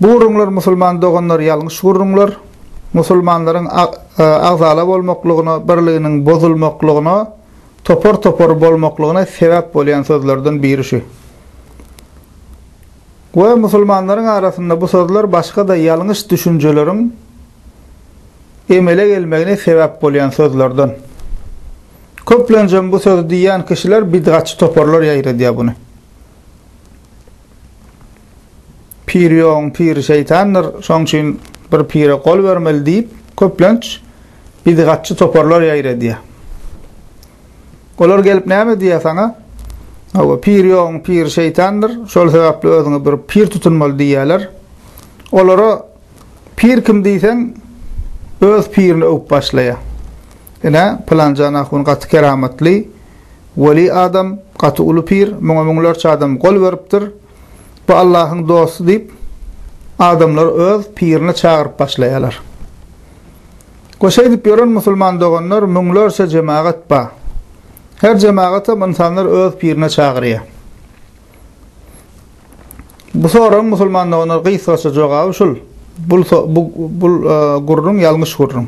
Bu gürrüňler musulman doganlar ýalňyş gürrüňler. Musulmanlaryň agzala bolmaklygyna, birliginiň bozulmaklygyna, topar-topar bolmaklygyna sebäp bolýan sözlerden biri şu. We musulmanlaryň arasynda bu sözler başga-da ýalňyş düşünjeleriň emele gelmegine sebäp bolýan sözlerden. Köplenjem bu sözi diýýän kişiler bidgatçy toparlar ýaýradýar buny. Pir ýoguň piri şeýtandyr, şoň üçin bir pire gol bermeli diýip, köplenç bidgatçy toparlar ýaýra edýär. Olar gelip näme diýýär saňa? Hawa, pir ýoguň piri şeýtandyr, şol sebäpli özüňe bir pir tutunmaly diýýärler. Olara pir kim diýseň, öz pirini öwüp başlaýar. Ine, pylanjan ahun gaty keramatly, weli adam, gaty uly pir, muňa müňlerçe adam gol beripdir. Bu Allahyň dosty diýip, adamlary öz pirine çagyryp başlaýarlar. We şeýdip ýören musulman doganlar müňlerçe jemagat bar. Her jemagatam ynsanlar öz pirine çagyrýar. Bu soragyň musulman doganlar gysgaça jogaby şul, bul bu bu gürrüň ýalňyş gürrüň.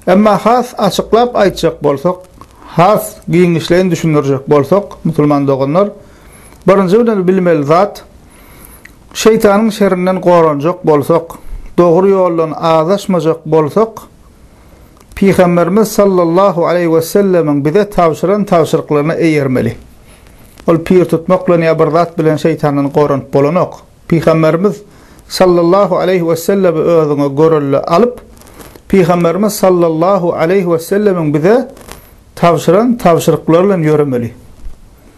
Emma has açyklap aýtjak bolsak, has giňişleýin düşündirjek bolsak, musulman doganlar, Birinji bilen bilmeli zat, şeýtanyň şerinden goranjak bolsak, dogry ýoldan azaşmajak bolsak, Pygamberimiz sallallahu aleýhi wesellemiň bize tabşyran tabşyryklaryna eýermeli. Ol pir tutmak bilen ýa bir zat bilen şeýtandan goranyp bolanok. Pygamberimiz sallallahu aleýhi wesellemi özüňe görelde alyp, Pygamberimiz sallallahu aleýhi wesellemiň bize tabşyran tabşyryklary bilen ýöremeli.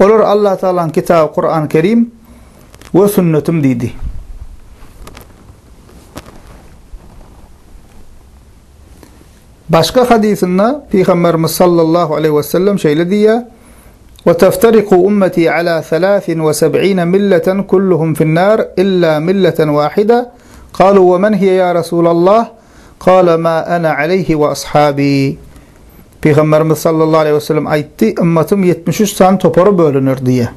Olar Allatagalaň kitaby Kurany Kerim we sünnetim diýdi. Başga hadysynda Pygamberimiz sallallahu aleyhi ve sellem şeýle diýýär: "Ve teftariku ummeti ala 73 milleten kulluhum fin-nar illa milleten wahida." Kalu ve men hiye ya Resulallah? Kâle mâ ene aleyhi ve ashâbî. Pygamberimiz sallallahu aleyhi ve sellem aýtdy, ümmetüm ýetmiş üç sany topara bölüner diýýär.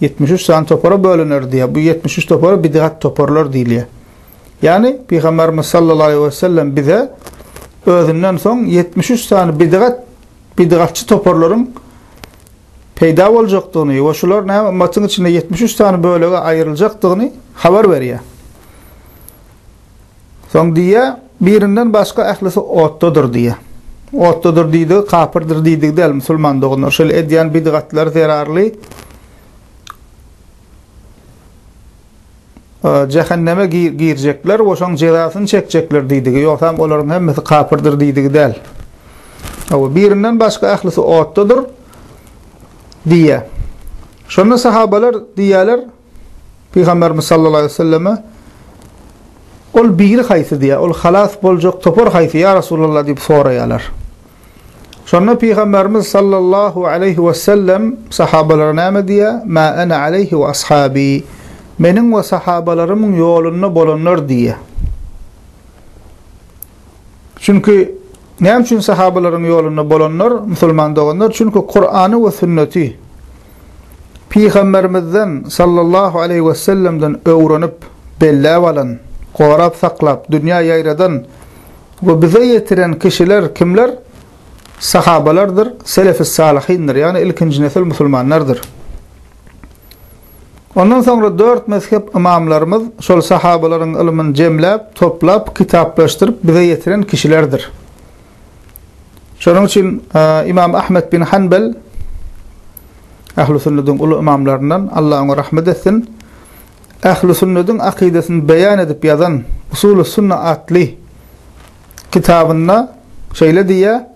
Ýetmiş üç sany topara bölüner diýýär. Bu ýetmiş üç topara bidgat toparlar diýilýär. Ýagny pygamberimiz sallallahu aleyhi ve sellem bize özünden soň ýetmiş üç sany bidgat bidgatçy toparlaryň peýda boljakdygyny we şular näme ümmetin içinde ýetmiş üç sany bölege aýryljakdygyny habar berýär. Soň diýýä, Birinden başga ählisi otdadyr diýýä. Otdadyr diýdigi kapyrdyr diýdigi däl, musulman doganlar. Şeýle edýän bidgatlary zerarly jähenneme girjekler we şoň jezasyny çekjekler diýdigi, ýogsam olaryň hemmesi kapyrdyr diýdigi däl. Hawa, birinden başga ählisi otdadyr diýýä. Şonda sahabalar diýýäler, Pygamberimiz sallallahu aleýhi we selleme, Ol biri haýsy diýýär, ol halas boljak topar haýsy, ýa Resulallah diýip soraýarlar. Şonda Pygamberimiz sallallahu aleýhi we sellem sahabalara näme diýýär, Mä ene aleýhi we ashabi, Meniň we sahabalarymyň ýolunda bolanlar diýýär. Çünki näme üçin sahabalaryň ýolunda bolanlar, musulman doganlar? Çünki Kurany we sünneti Pygamberimizden sallallahu aleýhi wesellemden öwrenip, belläp alan, gorap saklap, dünýä ýaýradan we bize ýetiren kişiler kimler? Sahabalardyr, selef-i salyhindir, ýagny ilkinji nesil musulmanlardyr. Ondan soňra dört mezhep ymamlarymyz şol sahabalaryň ylmyny jemläp, toplap, kitaplaşdyryp bize ýetiren kişilerdir. Şonuň üçin Ymam Ahmet bin Hanbel Ähli sünnediň uly ymamlaryndan, Allah oňa rahmet etsin, Ähli sünnediň akydasyny beýan edip ýazan Usuly sünne atly kitabynda şeýle diýýär,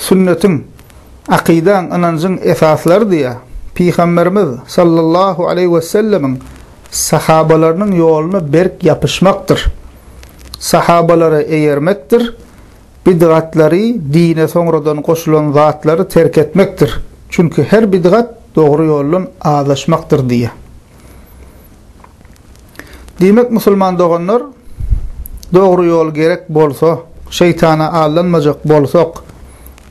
sünnetiň, akydaň, ynanjyň esaslarydyýa, Pygamberimiz sallallahu aleýhi wesellemiň sahabalarynyň ýoluna berk ýapyşmakdyr, sahabalara eýermekdir, bidgatlary, dine soňradan goşulan zatlary terk etmekdir, çünki her bidgat dogry ýoldan azaşmakdyr diýýä. Diýmek musulman doganlar dogry ýol gerek bolsa, şeýtana aldanmajak bolsak,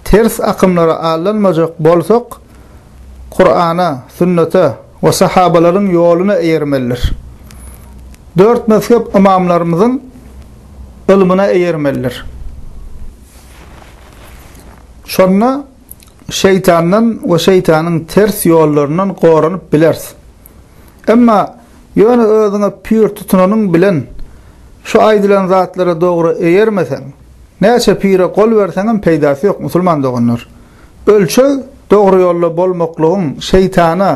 ters akymlara aldanmajak bolsak, Kurana, sünnete we sahabalaryň ýoluna eýermelidir. Dört mezhep ymamlarymyzyň ylmyna eýermelidir. Şonda şeýtandan we şeýtanyň ters ýollaryndan goranyp bileris. Emma ýöne özüňe pür tutunanyň bilen şu aýdylan zatlara dogry eýermeseň, näçe pire gol berseňem peýdasy ýok, musulman doganlar. Ölçeg dogry ýolda bolmaklygyň, şeýtana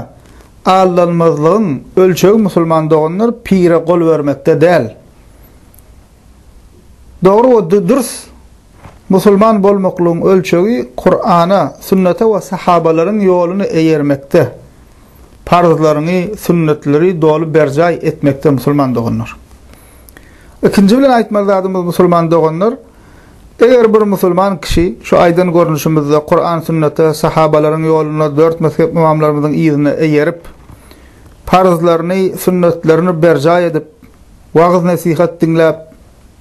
aldanmazlygyň ölçegi musulman doganlar pire gol bermekde däl. Dogry we dürs Musulman bolmaklygyň ölçegi Kur'ana, sünnete we sahabalaryň ýoluna eýermekde, parzlaryňy, sünnetleri doly berjaý etmekde musulman doganlar. Ikinji bilen aýtmaly zadymyz musulman doganlar, eger bir musulman kişi şu aýdan görnüşimizde Kur'an sünnete, sahabalaryň ýoluna, dört mezhep ymamlarymyzyň yzyna eýerip, parzlaryny, sünnetlerini berjaý edip, wagyz-nesihat diňläp,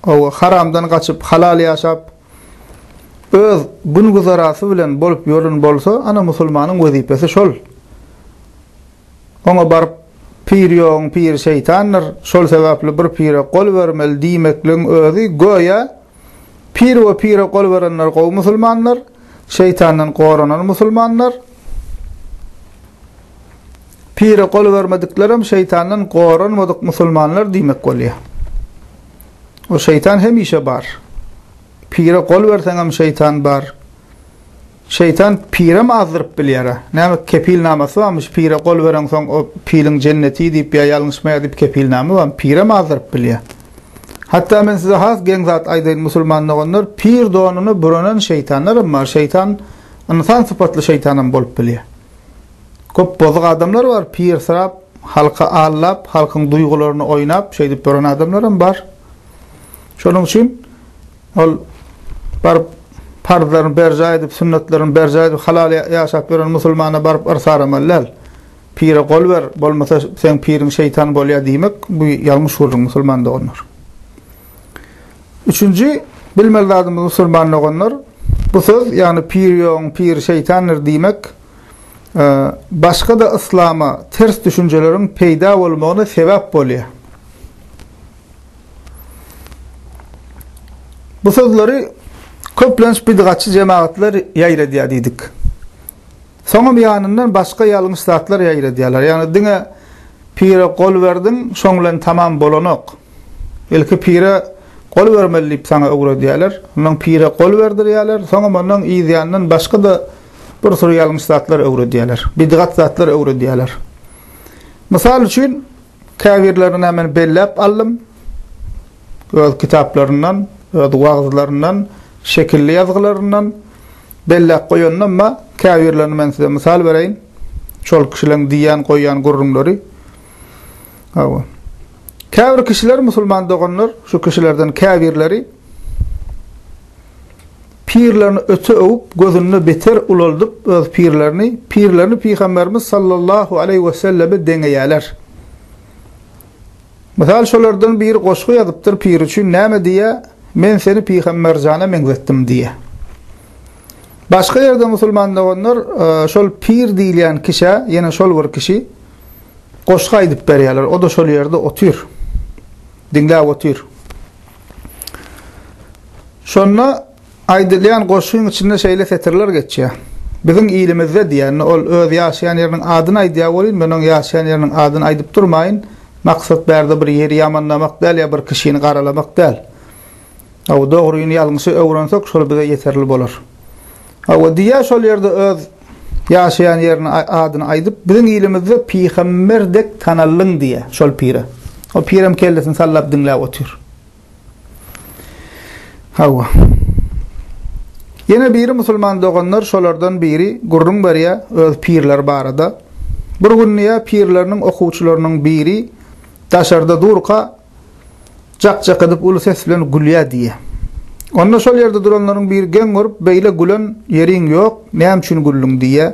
Hawa, haramdan gaçyp, halal ýaşap, öz gün-güzerasy bilen bolup ýören bolsa, ana, musulmanyň wezipesi şol. Oňa baryp, Pir ýogyň piri şeýtandyr, şol sebäpli bir pire gol bermeli diýmekligiň özi, göýä, pir we pire gol berenler gowy musulmandyr, Şeýtandan goranan musulmanlar Pire gol bermediklerem şeýtandan goranmadyk musulmanlar diýmek bolýar. O şeýtan hemişe bar. Pire gol berseňem şeýtan bar. Şeýtan pirem azdyryp bilýär. Näme kepil namasy barmyş? Pire gol bereňsoň o piliň jenneti diýip ýa ýalňyşmaýar diýip kepil name bar? Pirem azdyryp bilýär. Hatda men size has geň zat aýdaýyn, musulman doganlar, pir donuny buranan şeýtanlaram bar, şeýtan ynsan sypatly şeýtanam bolup bilýär. Köp bozuk adamlar bar, pirsirap, halky aldap, halkyň duýgularyny oýnap, şeýdip duran adamlaram bar. Şonuň üçin ol baryp parzlaryny berjaý edip, sünnetlerini berjaý edip, halal ýaşap ýören musulmana baryp yrs aramaly däl. Pire gol ber, bolmasa seň piriň şeýtan bolýar diýmek, bu ýalňyş gürrüň musulman doganlar. Üçünji bilmeli zadymyz musulman doganlar, bu söz, ýagny pir ýogyň piri şeýtandyr diýmek, başga-da yslama ters düşünjeleriň peýda bolmagyna sebäp bolýar. Bu sözleri köplenç bidgatçy jemagatlar ýaýradýar diýdik. Soňam ýanyndan başga ýalňyş zatlar ýaýradýarlar. Ýagny diňe pire gol berdiň, şoň bilen tamam bolanok. Ilki pire gol bermeli diýip saňa öwredýärler. Ondan pire gol berdirýärler, soňam ondan yzýandan başga-da bir sürü ýalňyş zatlar öwredýärler. Bidgat zatlar öwredýärler. Mysal üçin, Käbirlerini nämen belläp aldym, öz kitaplaryndan, öz wagyzlaryndan, şekilli ýazgylaryndan belläp goýandym-a, käbirlerini men size mysal bereýin, şol kişileriň diýýän, goýýan gürrüňleri. Hawa. Käbir kişiler, musulman doganlar, şu kişilerden käbirleri, Pirlerini öte öwüp, gözünde beter ulaldyp öz pirlerini, pirlerini Pygamberimiz sallallahu aleýhi weselleme deňeýäler. Mysal şolardan biri goşgy ýazypdyr piri üçin näme diýýä, Men seni Pygamberjana meňzetdim diýýä. Başga ýerde musulman doganlar şol pir diýilýän kişä, ýene şol bir kişi goşgy aýdyp berýäler, o-da şol ýerde otyr. Diňläp otyr. Şonda aýdylýan goşgyň içinde şeýle setirler geçýär, Biziň ilimizde diýende, ol öz ýaşaýan ýeriniň adyny aýdýar welin, men oň ýaşaýan ýeriniň adyny aýdyp durmaýyn, maksat bärde bir ýeri ýamanlamak däl ýa bir kişini garalamak däl. Hawa, dogryny ýalňyşy öwrensek, şol bize ýeterli bolar. Hawa, diýýär, şol ýerde öz Ýaşaýan ýerini adyny aýdyp biziň ilimizde pygamber dek tanallyň diýýä şol pire. O pirem kellesini sallap diňläp otyr. Hawa. Ýene biri musulman doganlar şolardan biri gürrüň berýä öz pirleri barada. Bir gün diýýä pirleriniň okuwçylarynyň biri daşarda durka Jak-jak edip uly ses bilen gülýär diýýär. Onda şol ýerde duranlaryň biri geň görüp, Beýle gülen ýeriň ýok, näme üçin güldüň? diýýär.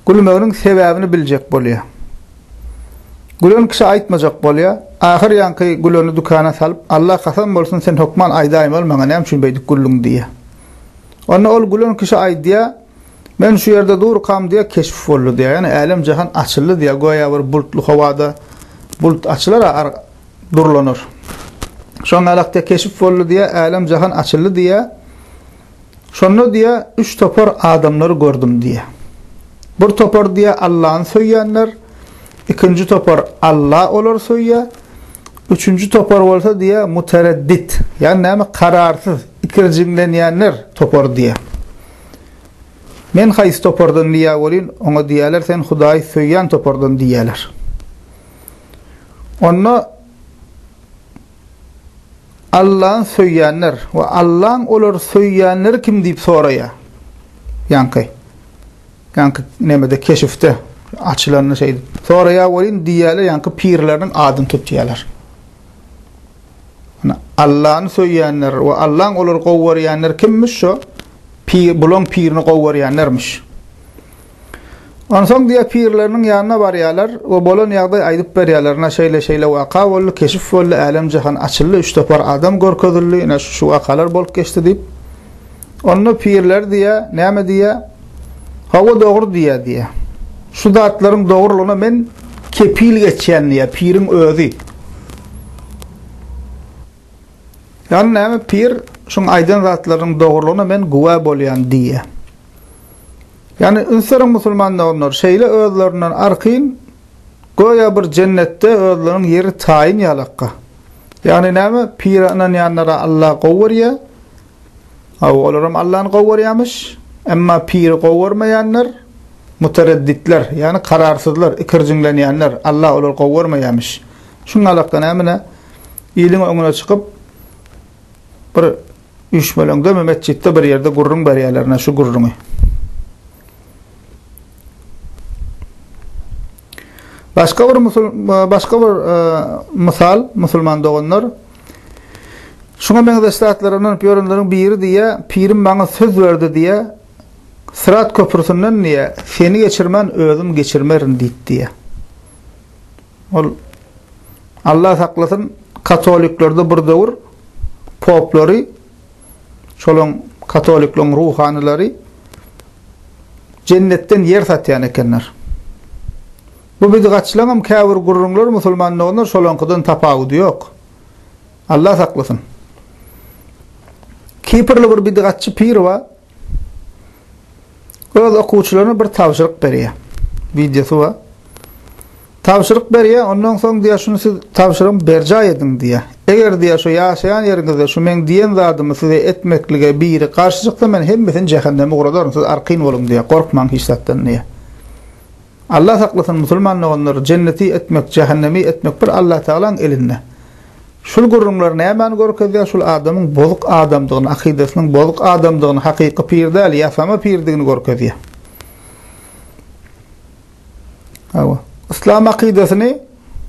Gülmeginiň sebäbini biljek bolýar. Gülen kişi aýtmajak bolýar. Ahyr ýaňky güleni dükana salyp, Alla kasam bolsun, sen hökman aýdaýmaly maňa näme üçin beýdip güldüň diýýär. Onda ol gülen kişi aýdýar. Men şu ýerde durkam diýýär, keşp boldy diýýär. Ýagny älem-jahan açyldy diýýär. Göýä bir bulutly howada bulut açylar-a, ar durlanar. Şoň alak diýýär, keşp boldy diýýär, älem-jahan açyldy diýýär. Şonda diýýär, üç topar adamlary gördüm diýýär. Bir topar diýýär, Allany söýýänler, ikinji topar Alla olary söýýär, üçünji topar bolsa diýýär, mutereddit, ýagny näme, kararsyz, ikirjiňlenýänler topary diýýär. Men haýsy topardan diýýä welin, oňa diýýäler sen Hudaýy söýýän topardan diýýäler. Onda Allany söýýänler we Allaň olary söýýänleri kim diýip soraýa. Ýaňky ýaňky nemede keşifde açylanda şeýdip soraýa welin diýýäler ýaňky pirleriniň adyny tutýalar. Allany söýýänler we Allaň olary gowarýanlar kimmiş şo? Pir bulaň pirini gowarýanlarmyş. Onsoň diýe pirleriniň ýanyna barýarlar we bolan ýagdaýy aýdyp berýärler. Ina şeýle şeýle waka boldy, keşif boldy, älem jahan açyldy, üç topar adam görkezildi, ina şu wakalar bolup geçdi diýip. Onda pirler diýýär, näme diýýär? Hawa, dogry diýýär diýýär. Şu zatlaryň dogrulygyna men kepil geçýän diýýär piriň özi. Ýagny näme? Pir şuň aýdan zatlarynyň dogrulygyna men güwä bolýan diýýär. Ýagny ünseriň musulman doganlar, şeýle özlerinden arkin göýä bir jennetde özleriniň ýeri taýyn ýalakka. Ýagny näme? Pire ynanýanlara Alla gowy görýär. Hawa, olaram Allany gowy görýärmiş. Emma piri gowy görmeýänler, muteredditler, ýagny kararsyzlar, ikirjiňlenýänler, Alla olary gowy görmeýärmiş. Şunuň alakda nämine iliň öňüne çykyp, bir üýşmeleňdemi, metjitde bir ýerde gürrüň berýärler, ine şu gürrüňi. Başga bir musul, başga bir e, mysal, musulman doganlar, Şuňa meňzeş zatlara ynanyp ýörenleriň biri diýýär, Pirim maňa söz berdi diýýär, Syrat köprüsinden diýýär, seni geçirmän özüm geçirmerin diýdi diýýär. Ol Allah saklasyn, katoliklerde bir döwür poplary, şolaň katolikleriň ruhanylary jennetden ýer satýan ekenler. Bu bidgatçylaňam käbir gürrüňler musulman doganlar şolaňkydan tapawudy ýok. Allah saklasyn. Kiprli bir bidgatçy pir bar. Öz okuwçylaryna bir tabşyryk berýär. Wideosy bar. Tabşyryk berýär, ondan soň diýär, şuny siz tabşyrygymy berjaý ediň diýär. Eger diýär, şu ýaşaýan ýeriňizde şu meň diýen zadymy size etmeklige biri garşy çyksa, men hemmesini jähenneme ugradaryn, siz arkaýyn boluň diýär, gorkmaň hiç zatdan diýär. Allah saklasyn musulman doganlar jenneti etmek jähennemi etmek bir Allah tagalaň elinde. Şul gürrüňler nämäni görkezýär şul adamyň bozuk adamdygyny akydasynyň bozuk adamdygyny hakyky pir däl ýasama pirdigini görkezýär. Hawa. Yslam akydasyny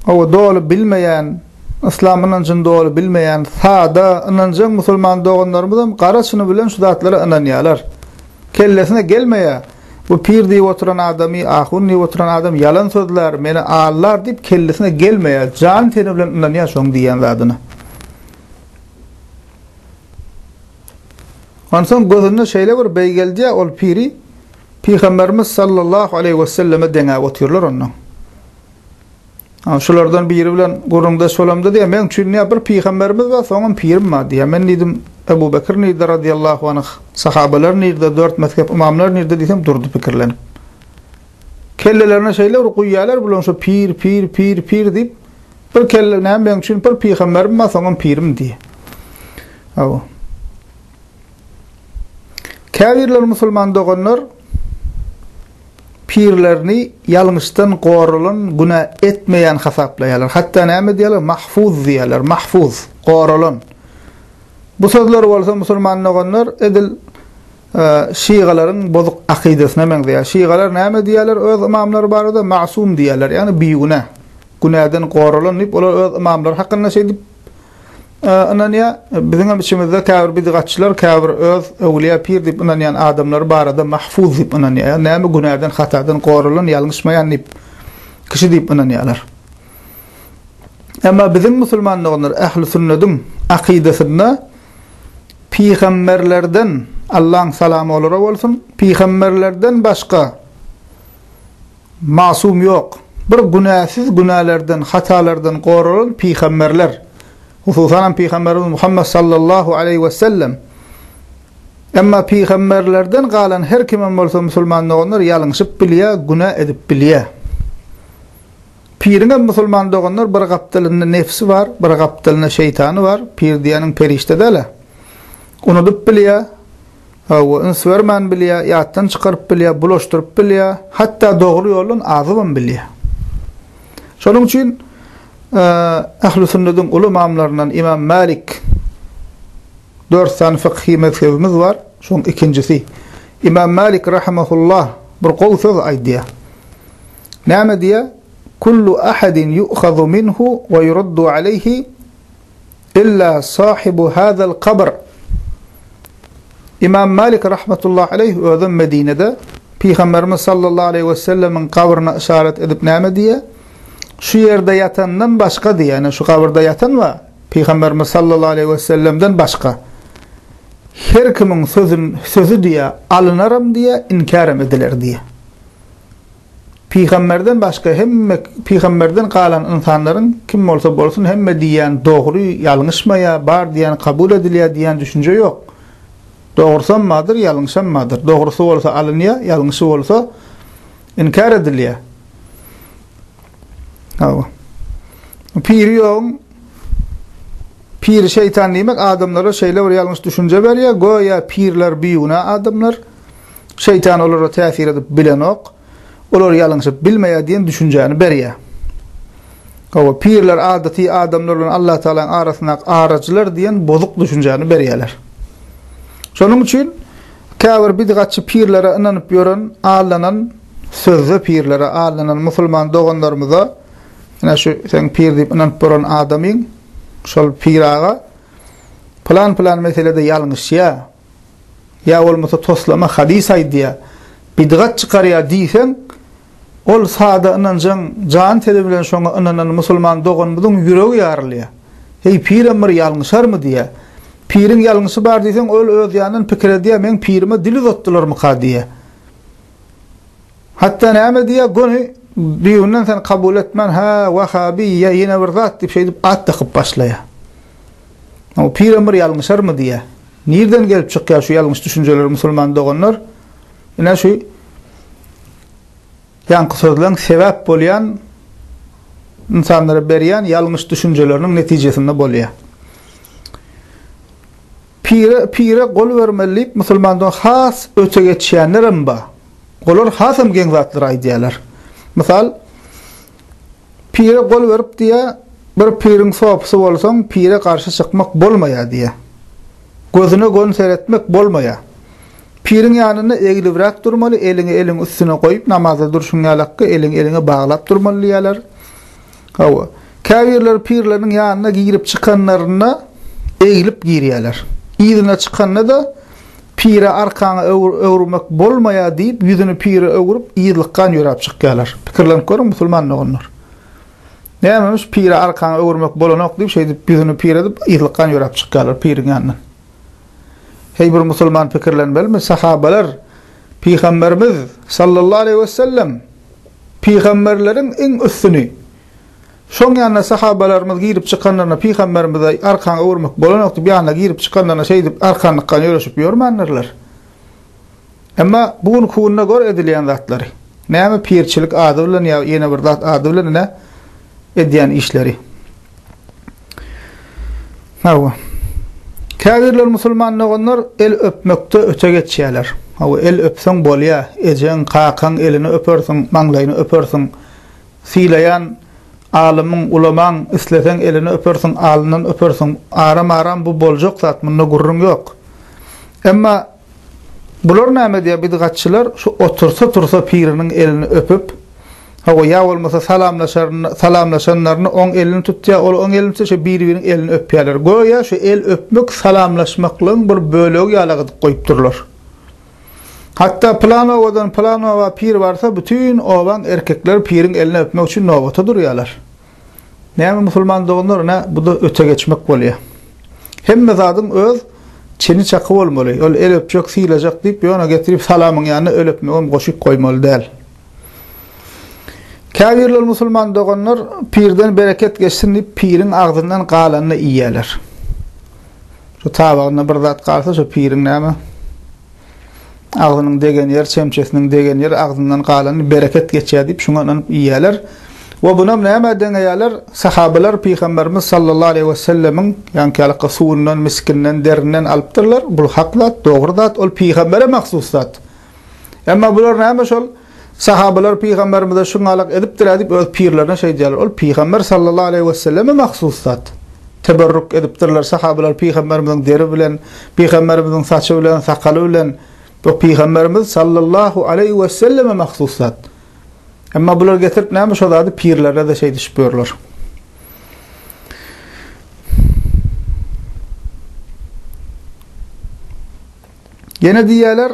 Owo doly bilmeýän, yslam ynanjyny doly bilmeýän, sada, ynanjaň musulman doganlarymyzam gara çyny bilen şu zatlara ynanýarlar. Kellesine gelmeýär, bu pir diýip oturan adamy, ahun diýip oturan adam ýalan sözlär, meni aldar diýip kellesine gelmeýär, jany-teni bilen ynanýar şoň diýýän zadyna. Onsoň gözüne şeýle bir beý geldýär ol piri Pygamberimiz sallallahu aleýhi weselleme deňäp otyrlar onnoň. Ha, şulardan biri bilen gürrüňdeş bolamda diýýär, meň üçin diýýär, bir pygamberimiz bar, soňam pirim bar diýýär. Men diýdim, Ebu Bekir nirde razyýallahu anh, sahabalar nirde, dört mezhep ymamlar nirde diýsem, durdy pikirlenip. Kellelerine şeýle bir guýýarlar, bular şu pir, pir, pir, pir diýip, bir kelle, näme meň üçin bir pygamberim bar, soňam pirim diýýär. Hawa. Käbirler musulman doganlar pirlerini ýalňyşdan goralan günä etmeýän hasaplaýarlar. Hatda näme diýýärler? Mahfuz diýýärler. Mahfuz, goralan. Bu sözler bolsa musulman doganlar edil şygalaryň bozuk akydasyna meňzeýär. Şygalar näme diýýärler öz ymamlary barada? Masum diýýärler, ýagny bigünä. Günäden goralan diýip olar öz ymamlary hakynda şeýdip Ynanýar. Biziňem içimizde käbir bidigatçylar, käbir öz öwlüýä, pir diýip ynanýan adamlary barada mahfuz diýip ynanýar. Ýagny näme günäden, hatadan goralan, ýalňyşmaýan diýip, kişi diýip ynanýarlar. Emma biziň musulman doganlar ähli sünnediň akydasynda pygamberlerden, Allaň salamy olara bolsun, pygamberlerden başga Masum ýok. Bir günäsiz günälerden, hatalardan goralan pygamberler, hususan hem pygamberimiz Muhammet sallallahu aleýhi wesellem. Emma pygamberlerden galan her kimem bolsa musulman doganlar ýalňyşyp bilýär, günä edip bilýär. Piriňem musulman doganlar bir gapdalynda nebsi bar, bir gapdalynda şeýtany bar, pir diýeniň perişde däl-ä. Unudyp bilýär. Hawa, üns bermän bilýär, ýatdan çykaryp bilýär, bulaşdyryp bilýär, hatda dogry ýoldan azybam bilýär. Şonuň üçin Ähli sünnediň uly ymamlaryndan Ymam Mälik dört sany fykhy mezhebimiz bar. Şoň ikinjisi. Ymam Mälik rahimehullah bir gowy söz aýdýar. Näme diýýär? Kullu ahadin yu'khadu minhu we yuraddu alayhi illa sahibu hazal kabr. Imam Malik rahmetullahi aleyh özem Medinede Pygamberimiz sallallahu aleyhi ve sellemiň kabryna yşarat edip näme diýe? Şu ýerde ýatandan başga diýe, ýani şu kabyrda ýatan we Pygamberimiz sallallahu aleyhi ve sellemden başga her kimiň sözün sözi diýe alynaram diýe inkarem ediler diýe. Pygamberden başga hemme pygamberden galan ynsanlaryň kim bolsa bolsun hemme diýýän dogry ýalňyşmaýa bar diýýän kabul edilýä diýýän düşünje ýok. Dogrysam badyr ýalňyşam badyr. Dogrysy bolsa alynýa ýalňyşy bolsa inkär edilýä. Hawa. Piri ýogyň Piri şeýtan diýmek adamlara şeýle bir ýalňyş düşünje berýä, göýä pirler biguna adamlar. Şeýtan olara täsir edip bilenok, olar ýalňyşyp bilmeýär diýen düşünjäni berýär. Hawa, pirler adaty adamlar bilen Allatagalaň arasyndaky araçylar diýen bozuk düşünjäni berýärler. Şonuň üçin käbir bidgatçy pirlere ynanyp ýören, aldanan, sözde pirlere aldanan musulman doganlarymyza, ine şu seň pir diýip ynanyp boran adamyň, şol pir aga pylan-pylan meselede ýalňyşýar, ýa bolmasa toslama hadys aýdýar, bidgat çykarýar diýseň, ol sada ynanjaň jan-teni bilen şoňa ynanan musulman doganymyzyň ýüregi ýarylýar. Heý, pirem bir ýalňyşarmy diýýär. Piriň ýalňyşy bar diýseň, ol öz ýanyndan pikir edýär, meň pirime dil uzatdylarmyka diýýär. Hatda näme diýýär, göni düýbünden seni kabul etmän, hä, wahabi ýa ýene bir zat diýip şeýdip at dakyp başlaýar. Ol pirem bir ýalňyşarmy diýýär. Nirden gelip çykýar şu ýalňyş düşünjeler musulman doganlar? Ine şu ýaňky sözleň sebäp bolýan ynsanlara berýän ýalňyş düşünjeleriniň netijesinde bolýar. Pire, pire gol bermeli diýip musulmandan has öte geçýänlerem bar. Olar hasam geň zatlary aýdýarlar. Mysal, pire gol berip diýýär, bir piriň sopysy bolsaň, pire garşy çykmak bolmaýar diýýär. Gözüne gön seretmek bolmaýar. Piriň ýanynda eglibräk durmaly, eliňi eliň üstüne goýup namazda durşuň ýalakka, eliňi eliňe baglap durmaly diýýärler. Hawa. Käbirleri pirleriniň ýanyna girip çykanlarynda eglip girýärler. Yzyna çykanda-da, Pire arkaňy öwürmek bolmaýar diýip, ýüzüni pire öwürip, yzlykgan ýöräp çykýarlar. Pikirlenip görüň, musulman doganlar. Nämemiş, pire arkaňy öwürmek bolanok diýip, şeýdip ýüzüni pire edip, yzlykgan ýöräp çykýarlar piriň ýanyndan. Heý bir musulman pikirlenmelimi, sahabalar Pygamberimiz sallallahu aleýhi wesellem Pygamberleriň iň üstüni. Şoň ýanyna sahabalarymyz girip çykanlaryna pygamberimize arkan öwürmek bolanok diýip ýanyna girip çykanlaryna şeýdip arkan ykgan ýöreşip ýörmändirler. Emma bu günki günde gör edilýän zatlary. Näme pirçilik ady bilen ýa ýene bir zat ady bilen ine edýän işleri. Hawa. Käbirler musulman doganlar el öpmekde öte geçýärler. Hawa, el öpseň bolýar, ejeň, kakaň elini öpersiň, maňlaýyny öpersiň. Sylaýan alymyň, ulamaň isleseň elini öpersiň, alnyndan öpersiň. Aram-aram bu boljak zat, munda gürrüň ýok. Emma Bular näme diýýär bidgatçylar, şu otursa tursa piriniň elini öpüp, hawa, ýa bolmasa salamlaşanlaryny oň elini tutýar, ol oň elini tutýar, şeýdip biri-biriniň elini öpýärler. Göýä şu el öpmek salamlaşmaklygyň bir bölegi ýaly gydyp goýupdyrlar. Hatda pylan obadan pylan oba pir barsa, bütin obaň erkekleri piriň elini öpmek üçin nobata durýarlar. Näme musulman doganlar nä buda öte geçmek bolýa. Hemme zadyň öz çeni çaky bolmaly, ol el öpjek, sylajak diýip ýona getirip salamyň ýanyna el öpmegem goşup goýmaly däl. Käbirler musulman doganlar pirden bereket geçsin diýip piriň agzyndan galanyny iýýäler. Şu tabagynda bir zat galsa şu piriň näme Agzynyň degen ýer, çemçesiniň degen ýer, agzyndan galany bereket geçýär diýip, şuňa ynanyp iýýärler. We bunam nämä deňeýärler? Sahabalar Pygamberimiz sallallahu aleýhi wesellemiň ýaňkyýalykka suwundan, miskinden, derinden alypdyrlar. Bul hak zat, dogry zat, ol pygambere mahsus zat. Emma bular näme şol? Sahabalar pygamberimize şuňalak edipdir-ä diýip öz pirlerine şeýdýärler. Ol pygamber sallallahu aleýhi weselleme mahsus zat. Teberruk edipdirler sahabalar pygamberimiziň deri bilen, pygamberimiziň saçy bilen, sakaly bilen. Bu pygamberimiz sallallahu aleýhi weselleme mahsus zat. Emma bular getirip näme şo zady pirlerine-de şeýdişip ýörler. Ýene diýýärler,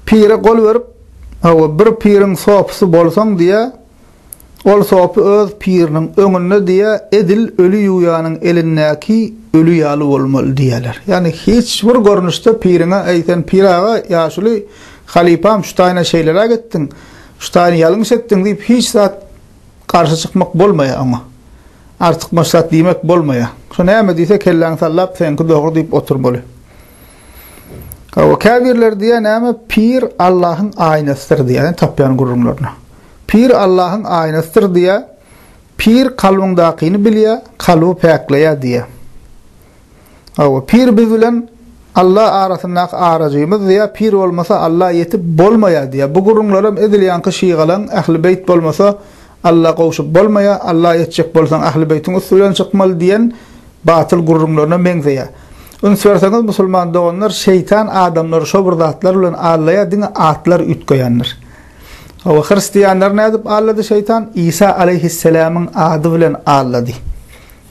Pire gol berip, Hawa, bir piriň sopusy bolsaň, diýýä, ol sopy öz piriniň öňünde, diýýä, edil öli ýuwýanyň elindäki öli ýaly bolmaly, diýýäler. Ýagny hiç bir görnüşde piriňe, Eý, sen pir aga, ýaşuly halypam, şu taýyna şeýleräk etdiň, şu taýyny ýalňyş etdiň diýip, hiç zat garşy çykmak bolmaýar oňa. Artykmaç zat diýmek bolmaýar. Şo näme diýse, kelläňi sallap, Seňki dogry diýip oturmaly. Hawa, käbirleri diýýär, näme, pir Allahyň aýnasydyr diýýär, ýani tapýan gürrüňlerine. Pir Allahyň aýnasydyr diýýär, pir kalbyňdakyny bilýär, kalby päkleýär diýýär. Hawa, pir biz bilen Alla arasyndaky arajymyz diýýär, pir bolmasa Alla ýetip bolmaýar diýýär. Bu gürrüňlerem edil ýaňky şygalaň, Ähli beýt bolmasa Alla gowşup bolmaýa, Alla etjek bolsaň Ahlibeýtiň üsti bilen çykmaly diýen batyl gürrüňlerine meňzeýä. Üns berseňiz musulman doganlar şeýtan adamlary şo bir zatlar bilen allaýa diňe atlar üýtgeýändir. Hawa hristianlary nädip allady şeýtan? Isa aleýhisselamyň ady bilen allady.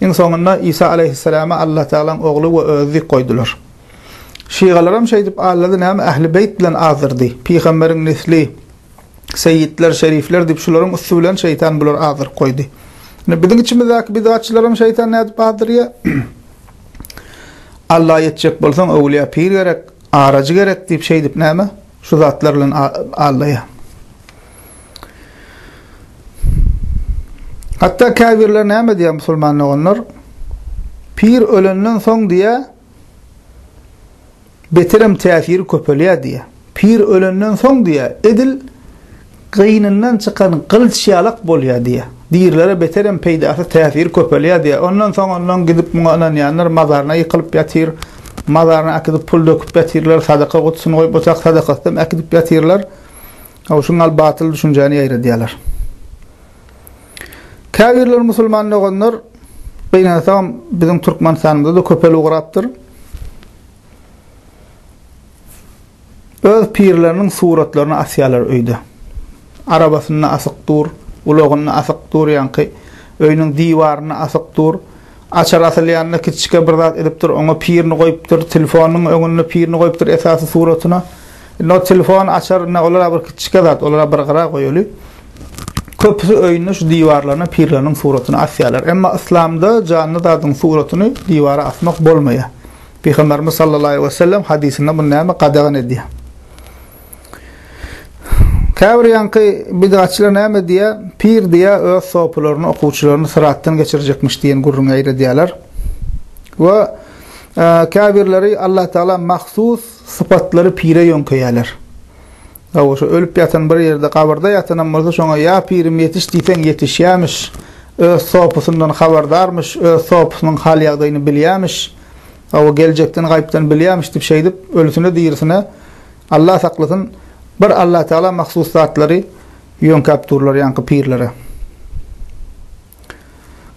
Iň soňunda Isa aleýhisselama Alla tagalaň ogly we özi diýip goýdular. Şygalaram şeýdip allady näme Ahlibeýt bilen azdyrdy, pygamberiň nesli, Seýitler, şerifler diýip şularyň üsti bilen şeýtan bulary azdyryp goýdy. Ine biziň içimizdäki bidgatçylaram şeýtan nädip azdyrýar? Alla ýetjek bolsaň öwlüýä pir gerek, arajy gerek diýip şeýdip näme? Şu zatlar bilen aldaýar. Hatda käbirler näme diýýär musulman doganlar? Pir ölenden soň diýýär, beterem täsiri köpelýär diýýär. Pir ölenden soň diýýär, edil gynyndan çykan gylyç ýalak bolýar diýýär. Dirilere beterem peýdasy, täsiri köpelýär diýýär. Ondan soň ondan gidip muňa ynanýanlar mazaryna ýykylyp ýatyr. Mazaryna äkidip pul döküp ýatyrlar, sadaka gutusyny goýup otyr, sadakasynam äkidip ýatyrlar. Howşuň al batyl düşünjäni ýaýradýarlar. Käbirler musulman doganlar gynansagam biziň Türkmenistanymyzda-da köpel ugrapdyr. Öz pirleriniň suratlaryny asýarlar öýde. Arabasynda asyk dur, ulagynda asyk dur ýaňky öýüniň diwarynda asyk dur. Açar asylýanda kiçijik bir zat edipdir, oňa pirini goýupdyr, telefonynyň öňünde pirini goýupdyr esasy suratyna. Indi o telefon, açar, indi olar-a bir kiçijik zat, olar-a bir gyra goýaly. Köpüsi öýüne şu diwarlaryna pirleriniň suratyny asýarlar. Emma yslamda janly zadyň suratyny diwara asmak bolmaýar. Pygamberimiz sallallahu aleyhi ve sellem hadysynda muny näme gadagan edýär? Käbir ýaňky bid'atçylar näme diýýär? Pir diýýär, öz sopularyny, okuwçylaryny syratdan geçirjekmiş diýen gürrüňi eýredýärler. We e, käbirleri Allah Taala mahsus sypatlary pire ýöňkeýärler. Hawa, şu ölüp ýatan bir ýerde, gabyrda ýatanam bolsa, şoňa ýa pirim ýetiş diýseň ýetişýämiş, öz sopusyndan habardarmyş, öz sopusynyň hal-ýagdaýyny bilýämiş, hawa, geljekden gaýypdan bilýämiş diýip, şeýdip, ölüsine-dirisine, Alla saklasyn, bir Allatagala mahsus zatlary ýöňkäp durlar ýaňky pirlere.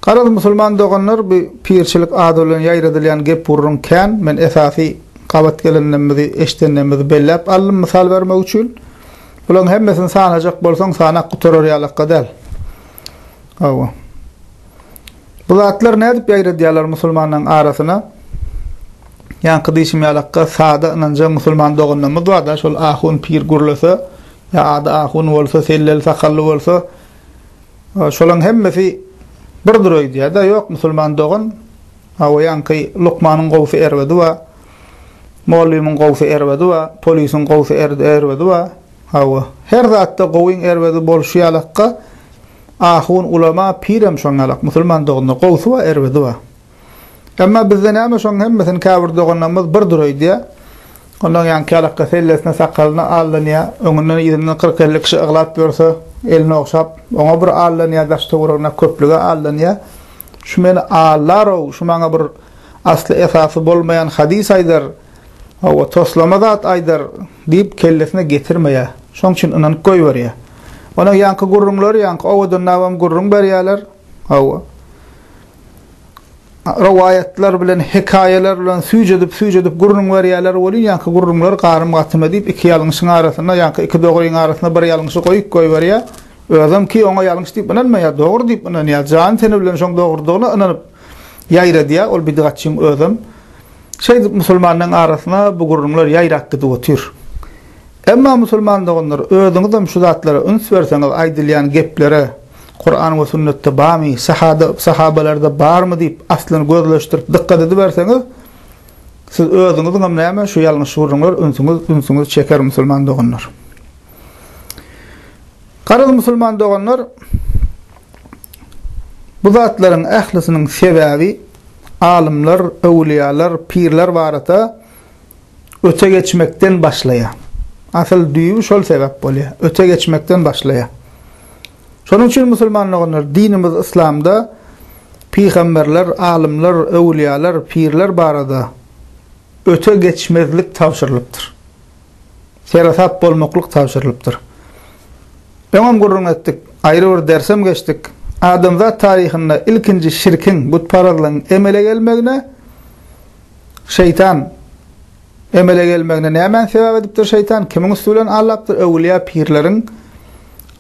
Garaz musulman doganlar bu pirçilik ady bilen ýaýradylýan gep gurruň kän, men esasy gabat gelendemizi, eşdenemizi belläp aldym mysal bermek üçin. Bulaň hemmesini sanajak bolsaň sanap gutarar ýalakka däl. Hawa. Bu zatlar nädip ýaýradýarlar musulmanyň arasyna? Ýaňky diýşim ýalakka sada ynanja musulman doganlarymyz barda şol ahun pir gürlese ýa ady ahun bolsa selleli sakally bolsa Şolaň hemmesi birdir öýdýäda ýok musulman dogan aoýanky lukmanyň gowsy erbedi ba mollymyň gowsy erbedi ba polisiň gowsy erbedi ba awo her zatda gowyň erbedi bolşy ýalakka ahun ulama pirem şoň ýalak musulman doganlar gowsy ba erbedi ba Emma bizde näme şoň hemmesini käbir doganlarymyz bir dury öýdýär. Ondan ýan kälekge sellesini sakalyny allanýa, öňünden yzyndan kyrk elli kişi yglap ýörse, elini ogşap, oňa bir allanýa daş töweregine köplüge allanýa. Şu meni allarow, şu maňa bir asly esasy bolmaýan hadys aýdar, hawa toslama zat aýdar diýip kellesine getirmeýär. Şoň üçin ynanyp goýberýär. Ondan ýanky gürrüňleri ýanky owadan nabam gürrüň berýärler. Hawa. rowaýatlar bilen, hekaýalar bilen süýjedip-süýjedip gürrüň berýärler welin, ýaňky gürrüňler garym-gatyma diýip, iki ýalňyşyň arasynda, ýaňky iki dogryň arasynda bir ýalňyşy goýup goýberýär. Özem ki, oňa ýalňyş diýip ynanmaýar, dogry diýip ynanýar, jany-teni bilen şoň dogrudygyna ynanyp ýaýradýar, ol bidgatçyň özem. Şeýdip, musulmanyň arasyna bu gürrüňler ýaýrap gidip otyr. Emma, musulman doganlar, özüňizem şu zatlara üns berseňiz, aýdylýan geplere, Kuran we sünnetde bamy, sahada, sahabalarda barmy diýip aslyny gözleşdirip dykgat ediberseňiz, siz özüňiziň hem näme şu ýalňyş gürrüňler ünsüňiz, ünsüňiz çeker musulman doganlar. Garaz musulman doganlar, bu zatlaryň ählisiniň sebäbi alymlar, öwliýalar, pirler barada öte geçmekden başlaýar. Asyl düýbi şol sebäp bolýar. Öte geçmekden başlaýar. Şonuň üçin musulman doganlar, dinimiz Yslamda pygamberler, alymlar, öwlüýalar, pirler barada öte geçmezlik tabşyrylypdyr. Seresap bolmaklyk tabşyrylypdyr. Öňem gürrüň etdik, aýry bir dersem geçdik. Adamzat taryhynda ilkinji şirkiň, butparazlygyň emele gelmegine şeýtan Emele gelmegine nämäni sebäp edipdir şeýtan? Kimiň üsti bilen aldapdyr? Öwülýä-pirleriň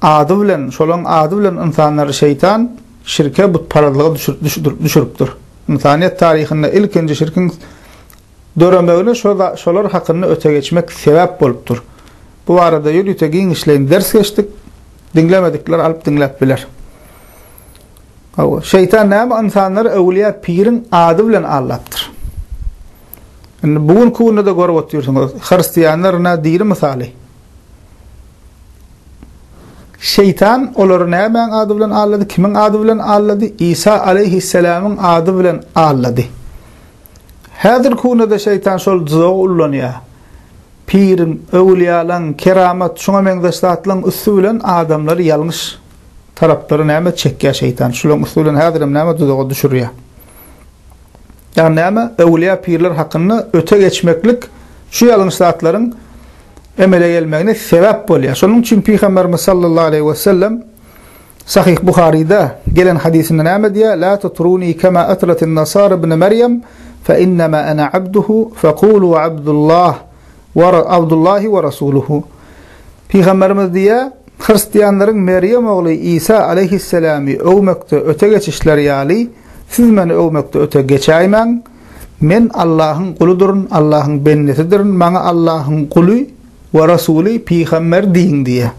ady bilen, şolaryň ady bilen ynsanlary şeýtan şirke, butparazlyga düşüripdir. Ynsanyýet taryhynda ilkinji şirkiň döremegine şolar hakynda öte geçmek sebäp bolupdyr. Bu barada ýörite giňişleýin ders geçdik. Diňlemedikler alyp diňläp biler. Hawa, şeýtan näme ynsanlary öwlüýä piriň ady bilen aldapdyr. Indi bu günki günde-de görüp otyrsyňyz, hristianlar ine diri mysaly. Şeýtan olary nämäň ady bilen aldady, kimiň ady bilen aldady? Isa aleýhisselamyň ady bilen aldady. Häzirki günde-de şeýtan şol duzagy ullanýar. Piriň, öwlüýälaň, keramat, şuňa meňzeş zatlaryň üsti bilen adamlary ýalňyş taraplary näme çekýär şeýtan. Şularyň üsti bilen häzirem näme duzaga düşürýär. Ýagny näme öwlüýä pirler hakynda öte geçmeklik şu ýalňyş zatlaryň emele gelmegine sebäp bolýar. Şonuň üçin pygamberimiz sallallahu aleýhi we sellem Sahih Buharyda gelen hadysynda näme diýýär? La tutruni kema atratyn nasara ibn Meryem fe innema ana abduhu fe kulu abdullah Wa Abdullahi wa Rasuluhu. Pygamberimiz diýýär, Hristianlaryň Merýem ogly Isa aleýhissalamy öwmekde öte geçişleri ýaly, siz meni öwmekde öte geçäýmäň. Men Allahyň guludyryn, Allahyň bendesidirin, maňa Allahyň guly we Rasuly, pygamber diýiň diýýär.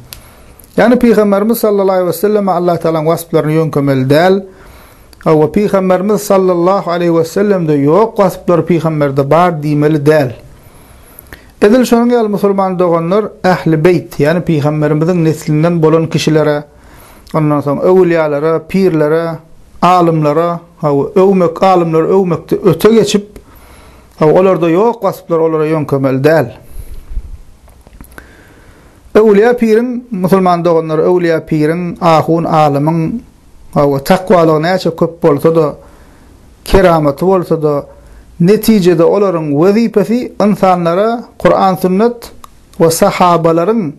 Ýagny pygamberimiz sallallahu aleýhi weselleme Allatagalaň wasplaryny ýöňkemeli däl. Hawa, Pygamberimiz sallallahu aleýhi wessellemde ýok wasplary pygamberde bar diýmeli däl. Edil şonuň ýaly musulman doganlar Ähli beýt, ýagny pygamberimiziň neslinden bolan kişilere, ondan soň öwülýalara, pirlere, alymlara, hawa, öwmek, alymlary öwmekde öte geçip, hawa, olarda ýok wasplar olara ýöňkemeli däl. Öwülýä piriň, musulman doganlar, öwülýä piriň, ahun alymyň, Hawa, takwalygy näçe köp bolsa-da, keramaty bolsa-da, netijede olaryň wezipesi ynsanlara Kuran, Sünnet we sahabalaryň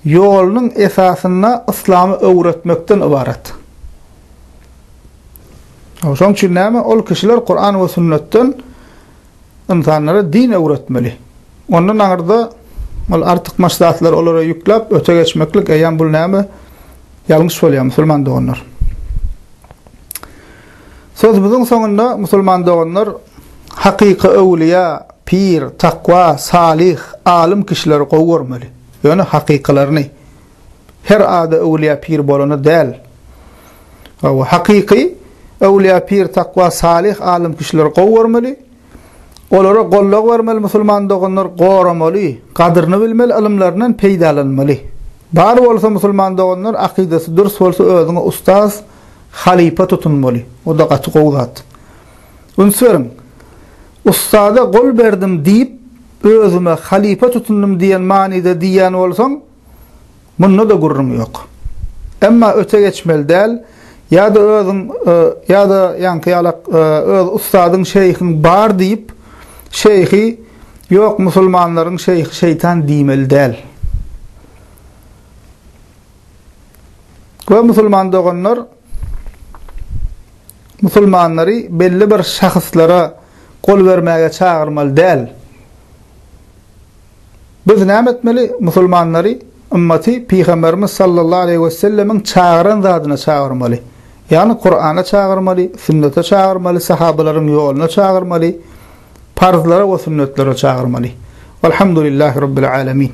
ýolunyň esasynda yslamy öwretmekden ybarat. Hawa, şonuň üçin näme? Ol kişiler Kuran we Sünnetden ynsanlara din öwretmeli. Ondan aňyrda ol artykmaç zatlary olara ýükläp, öte geçmeklik, eýýäm bul näme ýalňyş bolýar, musulman doganlar. Sözümiziň soňunda, musulman doganlar, hakyky öwlüýä, pir, takwa, salyh, alym kişileri gowy görmeli. Ýöne hakykylaryny. Her ady öwlüýä, pir bolany däl. Hawa, hakyky öwlüýä, pir, takwa, salyh, alym kişileri gowy görmeli. Olara gollag bermeli musulman doganlar goramaly, gadyryny bilmeli ylymlaryndan peýdalanmaly. Bar bolsa musulman doganlar akydasy dürs bolsa özüňe ustaz, halypa tutunmaly. Oda gaty gowy zat. Üns beriň. Ustada gol berdim diýip özüme halypa tutundym diýen manyda diýýän bolsaň, Munda-da gürrüň ýok. Emma öte geçmeli däl, ýa-da özüň, ýa-da ýaňky ýalak öz ussadyň, şeýhiň bar diýip, şeýhi ýok musulmanlaryň şeýhi şeýtan diýmeli däl. We musulman doganlar musulmanlary belli bir şahyslara gol bermäge çagyrmaly däl. Biz näme etmeli? Musulmanlary, ymmaty Pygamberimiz sallallahu aleýhi wesellemiň çagyran zadyna çagyrmaly. Ýagny Kurana çagyrmaly, sünnete çagyrmaly, sahabalaryň ýoluna çagyrmaly, parzlara we sünnetlere çagyrmaly. Walhamdulillahi Rabbil Alemin.